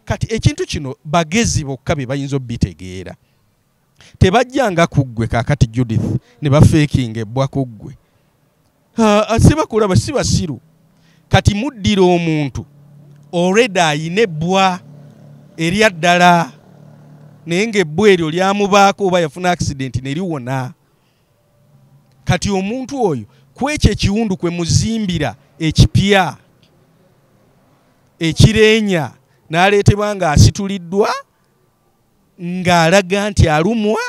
kati ekintu kino bagezi bokka be bayinza obitegeera tebajjanga ku ggwe kakati judith ne bafeekinga ebbwa ku ggwe sibakulaba si basiru kati muddira omuntu olwedde ayina ebbwa erya ddala naye ngaebbwa eryo lyamubaako oba yafuna akisidenti ne liwona kati omuntu oyo kwekyo ekiwundu kwe muzimbira ekipya ekireenya n'aleetebwa ng'asituliddwa ng'alaga nti alumwa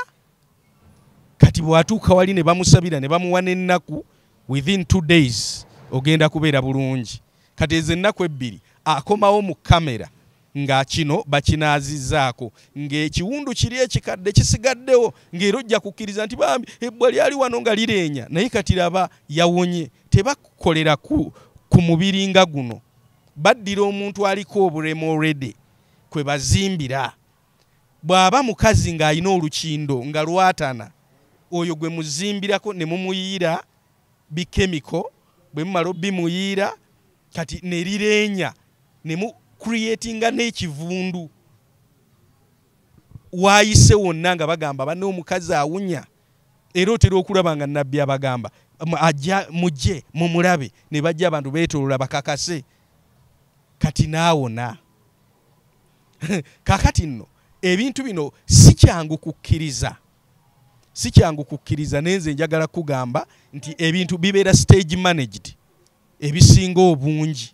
kati bw'atuuka wali ne bamusabira ne bamuwa n'ennaku within two days ogenda kubeera bulungi kati ezo ennaku ebbiri akomawo mu kamera nga kino bakinaazizzaako ng'ekiwundu kiri ekikadde kisigaddewo ng'era ojja kukkiriza nti bambi ebbwa lyali wano nga lireenya naye kati raba yawonye tebakolera ku, ku mubiri nga guno baddira omuntu aliko obulemu olredy kwe bazimbira bw'aba mukazi ng'alina olukindo nga lwatana oyo gwe muzimbirako ne mumuyiyira bikemiko bwe mumala obimuyiira kati ne lireenya ne mu creatinga n'ekivundu waayise wonna nga bagamba banne omukazi awunya era otera okulaba nga nabbi abagamba ajja mujje mumulabe ne bajja abantu beetolola bakakase kati naawona kakati nno ebintu bino si kyangu kukkiriza si kyangu kukkiriza naye nze njagala kugamba nti ebintu bibeera stage managed ebisinga obungi